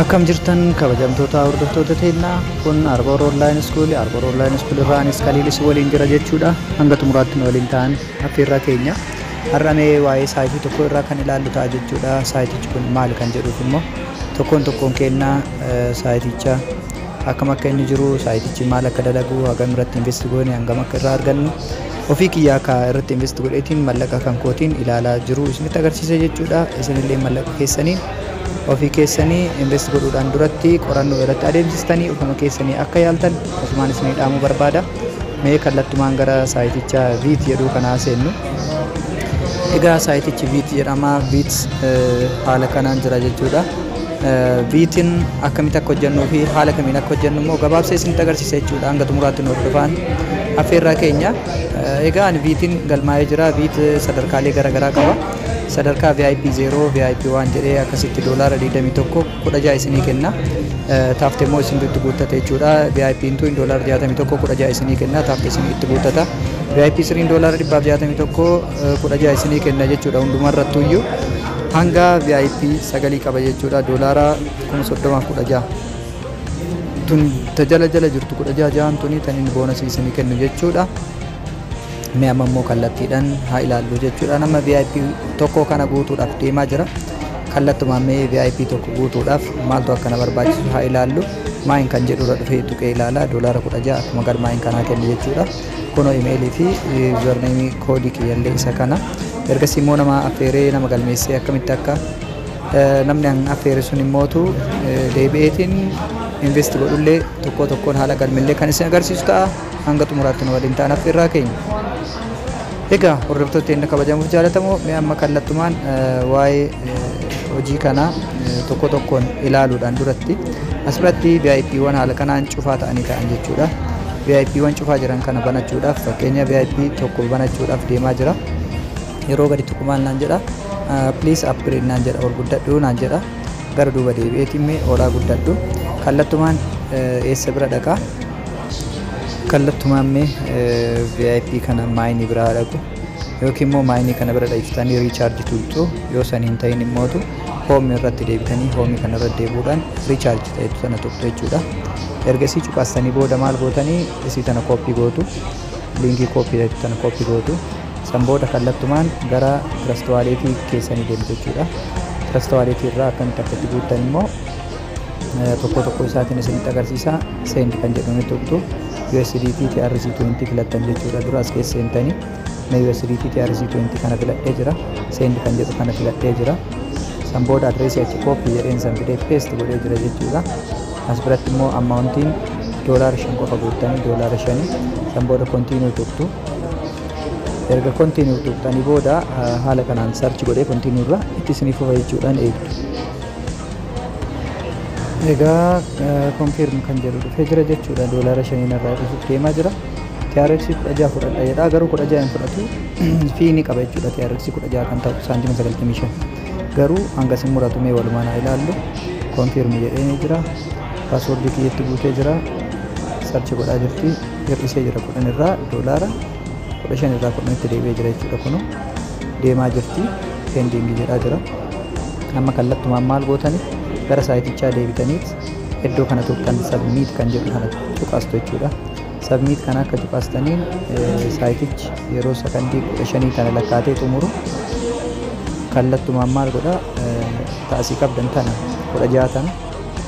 Akkam jirtan kabajamtoota hordoftoota teennaa kun Arboor Online School Arboor Online School irraa anis Kaliilis waliin jira jechuudha hanga xumuraatti nu waliin ta'an affeerraa keenya har'amee waa'ee saayitii tokko irraa kan ilaallu ta'a jechuudha saayitichi kun maal kan jedhuuf immoo tokkoon tokkoon keennaa saayiticha akkam akka inni jiru saayitichi maal akka dalagu hagam irratti invest goone hangam akka irraa argannu ofii kiyyaa akka irratti invest godheetiin mallaqa kan kootiin ilaalaa jiru isinitti agarsiisa jechuudha isinillee mallaqa keessanii ofii keessanii invest godhuudhaan duratti qorannoo irratti adeemsistanii ofuma keessanii akka yaaltan ofumaan isinii dhaamuu barbaada mee kallattumaan gara saayiticha viit jedhuu kanaa seennu egaa saayitichi viit jedhama viit haala kanaan jira jechuudha Biitin akkamitti akka hojjennuu fi haala kamiin akka hojjennu immoo gabaabsee isinitti agarsiisa jechuudha. Hanga xumuraatti nu hordofaa. Affeerraa keenya. Egaa ani biitin galmaa'ee jira. Biit sadarkaalee garaagaraa qaba. Sadarkaa VIP 0, VIP 1 jedhee akkasitti doolaara 21 16 isinii kenna. Taafte immoo isintu itti guuttate jechuudha. VIP intu doolaara 61 16 isinii kenna. Taafte isin itti guuttata. VIP 3 doolaara 161 kudha ja'a isinii kenna jechuudha hundumarrattuyyuu hanga VIP sagalii qaba jechuudha doolaara kuma soddomaaf kudha ja'a tun ta jala jala jirtu kudha ja'a ja'an tuni tan inni boonasii isinii kennu jechuudha mee amma immoo kallattiidhaan haa ilaallu jechuudha nama VIP tokko kana guutuudhaaf deemaa jira kallattumaan mee VIP tokko guutuudhaaf maaltu akkana barbaachisu haa ilaallu maayin kan jedhurra dhufee tuqee ilaala doolaara kudha ja'a akkuma galmaayin kanaa kenna jechuudha Kuno email fi username koodii kiyyallee isa kana. Ergasii immoo nama affeeree nama galmeessee akkamitti akka eh, namni an affeere sun immootu eh, deebi'eetiin invest godhullee tokkoo tokkoon haala galmillee kan isin agarsiisu ta'a. Hanga xumuraatti nu waliin ta'an affeerraa keenya. Egaa hordoftoota keenya kabajamuuf jaalatamoo mee amma kallattumaan waa'ee hojii kanaa tokko tokkoon ilaaluudhaan duratti asirratti VIPwwan haala kanaan cufaa ta'anii ta'an jechuudha. VIPwwan cufaa jiran kana banachuudhaaf fakkeenya VIP tokko banachuudhaaf deemaa jira. Yeroo gadi tuqu maal naan jedha please upgrade naan jedha ol guddadhu naan jedha gara duuba deebi'eetiin mee olaa guddadhu kallattumaan eessa bira dhaqaa kallattumaan mee vip kana maayinii bira haa dhaqu yookiin immoo maayinii kana bira dhiiftanii riichaarji tuqxu yoo san hin ta'in immootu hoomii irratti deebitanii hoomii kana irra deebuudhaan riichaarji ta'etu sana tuqxu jechuudha erga isii cuqaastanii booda maal gootanii isii tana kooppii gootu liinkii kooppii ta'etu tana kooppii gootu san booda kallattumaan gara tirastawaaleetii keessanii deemtu jechuudha tirastawaaleetii irraa akkamitti akka itti guuttan immoo tokko tokko isaatiin isinitti agarsiisa send kan jedhuun itti tuqtu USDT TRC20 filattan jechuudha dura as keessa seentanii na USDT TRC20 kana filadhee jira send kan jedhu kana filadhee jira san booda adreesii achi kooppi jedheen san fidee peest godhee jira jechuudha as biratti immoo ammaawuntiin doolaara shan qofa guuttanii doolaara shanii san booda kontiinuu tuqtu erga kontiinuu tuqxanii booda haala kanaan sarchi godhee kontiinuu irra itti isiniif fufa jechuudhaan eegdu Egaa confirm kan jedhu dhufee jira jechuudha doolaara shaniin irraa dhufuuf deemaa jira. TRX 16 fudhadha jedha garuu 16 hin fudhatu fii ni qaba jechuudha TRX 16 kan ta'u saantima 95 garuu hanga sin muratu mee walumaan haa ilaallu confirm jedhee ni jira paaswoordii kiyyatti guutee jira sarchi godhaa jirti hir'isee jira kudhan irraa doolaara kudha shan irraa kudhanitti deebi'ee jira jechuudha kunoo deemaa jirti pending jedhaa jira amma kallattumaan maal gootani gara saayitichaa deebitaniit iddoo kana tuqxan sabmiit kan jedhu kana tuqaastu jechuudha sabmiit kana akka tuqaastaniin saayitichi yeroo sakandii kudha shanii kana lakkaatee xumuru kallattumaan maal godha taasii qabdan tana kudha ja'a tana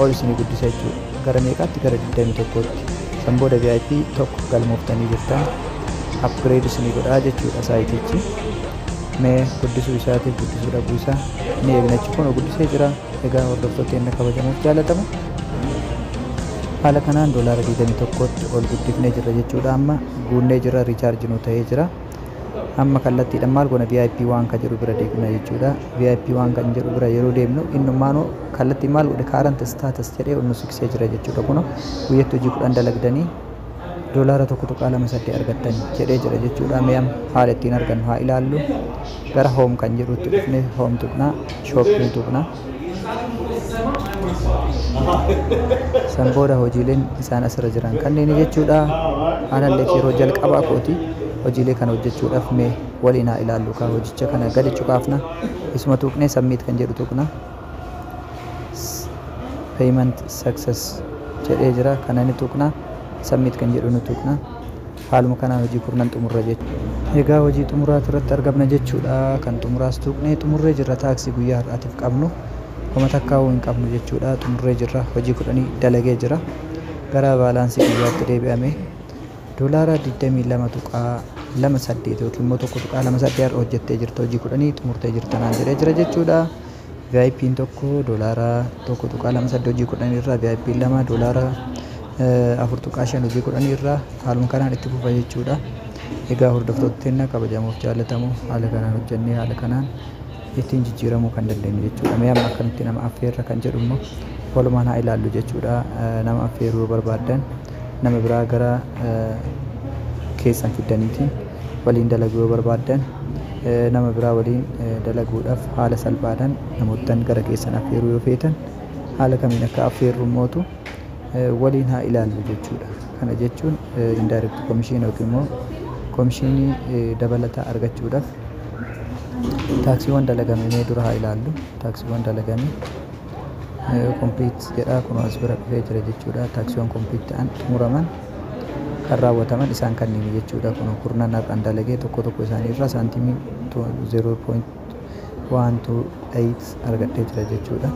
ol isinii guddisa jechuudha Gara meeqaatti gara 21tti. San booda VIP 1 galmooftanii jirtan. Upgrade isinii godhaa jechuudha saayitichi. Mee guddisuu isaatiif guddisuu dhabuu isaa ni eegna jechuudha. Kunoo guddisee jira. Egaa hordoftoota keenya kabajamoof jaallatama. Haala kanaan doolaara 21tti ol guddifnee jirra jechuudha amma guunnee jirra riichaarji nuu ta'ee jira. amma kallattiidhaan maal goona vip waan ka jedhu bira deemna jechuudha vip waan kan jedhu bira yeroo deemnu innummaanu kallattii maal godhe kaarant staatas jedhee nu siksee jira jechuudha kuno guyyatti hojii kudhan dalagdanii doolaara tokko tuqaa lama saddeet argattan jedhee jira jechuudha mee amma haala ittiin argannu haa ilaallu gara hoom kan jedhutti dhufne hoom tuqna shooppii tuqna San booda hojiileen isaan asirra jiran kanneen jechuudha. Analleef yeroo jalqabaa kooti hojiilee kana hojjechuudhaaf mee waliin haa ilaallu kaa hojicha kana gadi cuqaafna. Isuma tuqnee submit kan jedhu tuqna. Payment success jedhee jira kana ni tuqna. Submit kan jedhu ni tuqna. Haaluma kanaan hojii kurnan xumurra jechuudha. Egaa hojii xumuraati irratti argamna jechuudha. Kan xumuraas tuuqnee xumurree jirra. Taaksii guyyaa har'aatiif qabnu kuma takkaawuu hin qabnu jechuudha. Xumurree jirra. Hojii kudhanii dalagee jira. Gara baalaansii guyyaatti deebi'ame doolaara 22.28 yookiin immoo 1.28 har'a hojjettee jirta hojii kudhanii xumurtee jirta naan jedhee jira jechuudha. VIPn 1 doolaara 1.28 hojii 10 irraa VIPn 2 doolaara 4.5 hojii 10 irraa haaluma kanaan itti fufa jechuudha. Egaa hordoftoota keenya kabajamoof jaallatamu haala kanaan hojjennee haala kanaan ittiin jijjiiramuu kan dandeenyu jechuudha. Mee amma akkamitti nama affeerra kan jedhu immoo walumaan haa ilaallu jechuudha. Nama affeeruu yoo barbaaddan nama biraa gara keessan fiddaniiti. waliin dalagu yoo barbaaddan nama biraa waliin dalaguudhaf haala salphaadhan namoottan gara keessan affeeruu yoo feetan haala kamiin akka affeerru mootu waliin haa ilaallu jechuudha. Kana jechuun indirect commission yookiin immoo komishiinii dabalataa argachuudhaf taaksiiwwan dalagame mee dura haa ilaallu. Taaksiiwwan dalagame complete jedha kunoo as bira dhufee jira jechuudha. Taaksiiwwan complete ta'an xumuraman. kan raawwataman isaan kanniini jechuudha. Kun kurnan har'an dalagee tokko tokko isaanii irra saantiimii 0.128 argadhee jira jechuudha.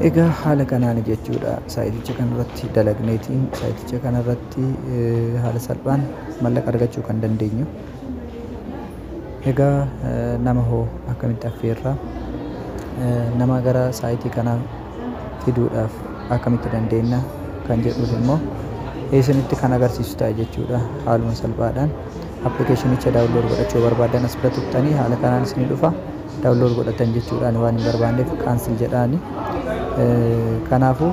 Egaa haala kanaan jechuudha saayiticha kanarratti dalagneetiin saayiticha kanarratti haala salphaan mallaqa argachuu kan dandeenyu. Egaa nama hoo akkamitti affeerra? Nama gara saayitii kanaa fiduudhaaf akkamitti dandeenna? Kan jedhuuf immoo isinitti kan agarsiisu ta'a jechuudha haaluma salphaadhaan. Appilikeeshinicha daawunlood godhachuu yoo barbaaddan as bira tuqxanii haala kanaan isinii dhufa. Daawunlood godhattan jechuudha ani waan hin barbaanneef kaansel jedhaani. Kanaafuu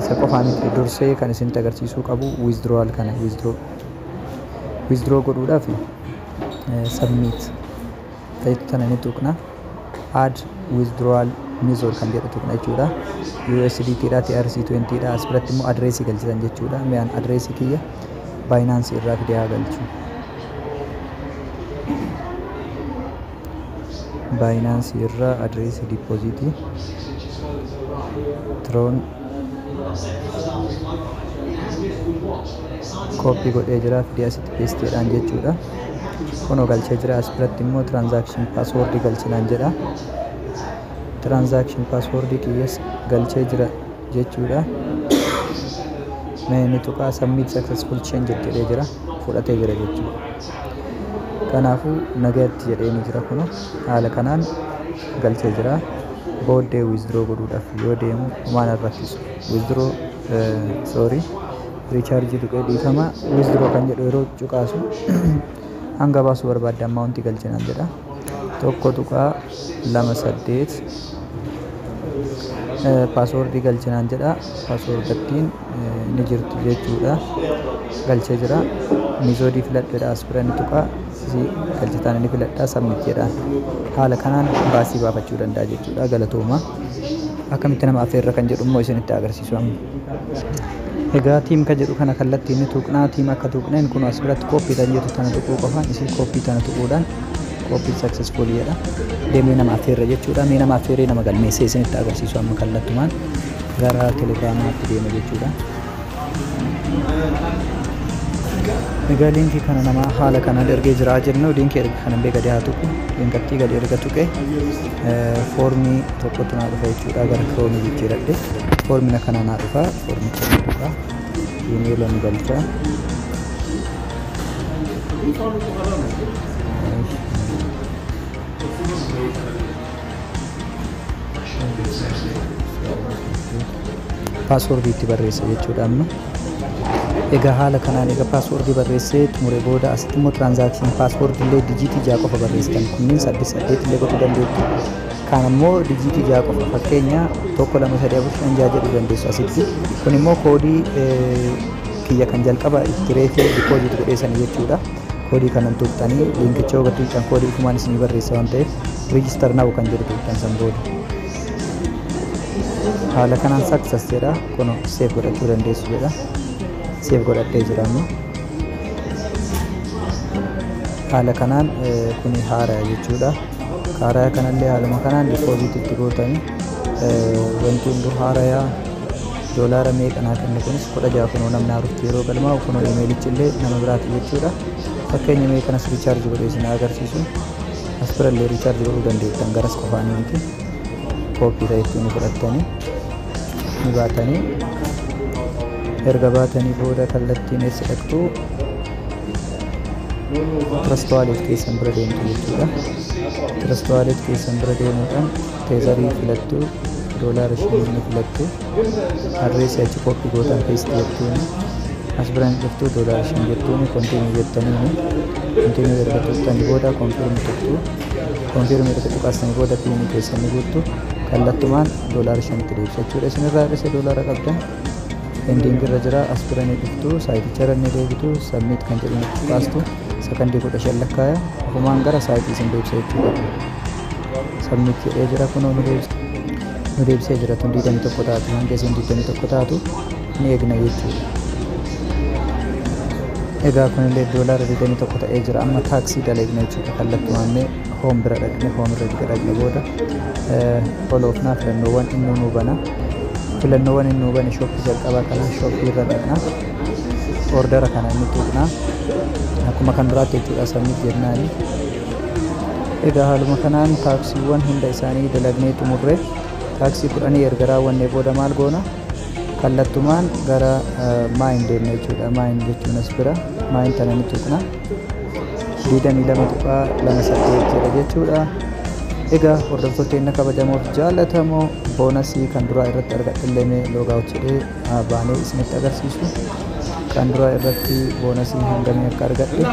Isa qofaa miti dursee kan isinitti agarsiisuu qabu withdrawal kana withdraw withdraw godhuudhaaf submit ta'etu tana ni tuqna add withdrawal method kan jedhu tuqna jechuudha USDT dha TRC20 dha as biratti immoo adreesii galchitan jechuudha mi'aan adreesii kiyya baayinaansii irraa fidee haa galchu Binance irra address deposit tron copy godhee jira fidee asitti paste jedhaan jechuudha kuno galchee jira as biratti immoo transaction password galchinaan jedha transaction password kiyyas galchee jira jechuudha mee ni tuqaa submit successful change jedhee jira fudhatee jira jechuudha kanaafuu nagayatti jedhee ni jira kuno haala kanaan galchee jira booddee withdraw godhuudhaaf yoo deemu waan rakkisu withdraw sorry recharge tuqee dhiifama withdraw kan jedhu yeroo cuqaasu hanga baasuu barbaadde ammaawunti galchinaan jedha 1.28 password galchi naan jedha password ittiin ni jirti jechuudha galchee jira mizoodii filadheedha aspiran tuqa isii galchitaan ni filadha submit jedha haala kanaan baasii baafachuu danda'a jechuudha galatooma akkamitti nama affeerra kan jedhu immoo isinitti agarsiisu amma Egaa team ka jedhu kana kallattiin ni tuqnaa team akka tuqneen kun as biratti copy tan jettu tana tuquu qofaan isii copy tana tuquudhaan copy successful jedha deemnee nama affeerra jechuudha mee nama affeerree nama galmeessee isinitti agarsiisu amma kallattumaan gara telegraamaatti deema jechuudha. Egaa liinkii kana nama haala kanaan ergee jiraa jennu liinkii erga kanan bee gadi haa tuqu liinkattii gadi erga tuqee foormii tokkotu naa dhufa jechuudha gara kiroomi jijjiiradhe foormina kana naa dhufa foormicha naa dhufa imeelan galcha paaswoordii itti barreessa jechuudha amma Egaa haala kanaan eega password barreessee xumure booda asitti immoo transaction password illee dijiitii 6 qofa barreessitan kunniin 8 8 illee gochuu dandeessu kaan ammoo dijiitii 6 qofa fakkeenya 1 2 3 4 5 6 jedhuu dandeessu asitti kun immoo koodii kiyya kan jalqaba itti reefee deposit godheessan jechuudha koodii kanan tuqxanii linkicha hubatti tuqxan koodii kumaan isinii barreessa waan ta'eef register now kan jedhu tuqxan san booda haala kanaan success jedha Kuno seef godhachuu dandeessu jedha. Seef godhadhee jira amma. Haala kanaan eh, kuni haaraya jechuudha. Haaraya kanallee haaluma kanaan dippooziit itti gootani. Eh, Wanti hunduu haaraya doolaara meeqa naa kenne kunis kudha ja'a kunoo namni haarutti yeroo galmaa'u kunoo imeelichillee nama biraati jechuudha. Fakkeenya mee kanas riichaarji godhee isin haa agarsiisu. As birallee riichaarji godhuu dandeettan garas qofaanii miti. Kooppii ta'e ittiin fudhattanii. ni baatanii erga baatanii booda kallattiin eessa dhaqxu tirastuwaaleet keessan bira deemtu jechuudha tirastuwaaleet keessan bira deemuudhaan teezarii filattu doolaara shanii ni filattu adreesii achi koppii gootan feesti jettuuni as biraan dhuftu doolaara shan jettuuni kontiinii jettaniini kontiinii erga turtanii booda konfiirmi turtu Confirm erga tuqaasanii booda piinii keessan ni guuttu. Kallattumaan doolaara shanitti deebisa jechuudha. Isin irraa hir'ise doolaara qabdan ending irra jira as bira ni dhuftu saayiticha irra ni deebitu submit kan jedhu ni tuqaastu sakandii kudha shan lakkaaya ofumaan gara saayitii isin deebisa jechuudha. Submit jedhee jira kunoo nu deebisa. nu deebisee jira tun 21 taatu hanga isiin 21 taatu ni eegna jechuudha. Egaa kunillee doolaara 21 ta'ee jira. Amma taaksii daleegna jechuudha. Kallattumaan mee hoom bira dhaqne hoom irra erga dhaqne booda foloofnaa filannoowwan inni nu bana. Filannoowwan inni nu bane shooppii jalqabaa kana shooppii irra dhaqna. Oordara kana inni tuqna. Akkuma kan duraatti jechuudha sabmit jennaani. Egaa haaluma kanaan taaksiiwwan hunda isaanii dalagnee xumurre taaksii kudhanii erga raawwannee booda maal goona? kallattumaan gara maayin deemna jechuudha maayin jechuun as bira maayin tana ni tuqna 22.28 jedha jechuudha egaa hordoftoota inni kabajamoof jaallatamoo boonasii kan duraa irratti argadhillee loogaawut jedhee baanee isinitti agarsiisu kan duraa irratti boonasii hangamii akka argadhe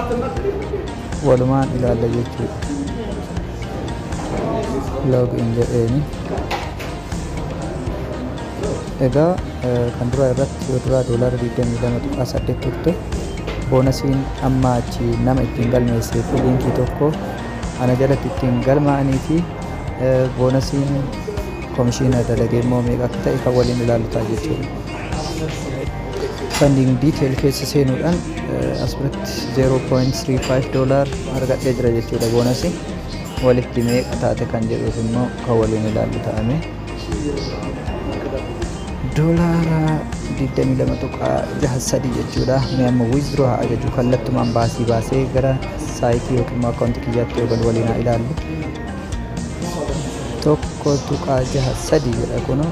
walumaan ilaalla jechuudha loogiin jedheeni egaa kan duraa irratti yoo duraa doolaara 22.8 turte boonasiin amma achi nama ittiin galmeessee fi liinkii tokko ana jalatti ittiin galmaa'anii fi boonasiin komishiina dalagee immoo meeqa akka ta'e kan waliin ilaalu ta'a jechuudha. Funding detail keessa seenuudhaan asirratti 0.35 doolaar argadhee jira jechuudha boonasii. Walitti meeqa taate kan jedhuuf immoo kan waliin ilaallu ta'ame. Doolaara 22.63 jechuudha. Mee amma withdraw haa ajaju kallattumaan baasii baasee gara saayitii yookiin immoo akkaawuntii kiyyaatti yoo galu waliin haa ilaallu. Tokko tuqaa jaha sadii jedha kunoo.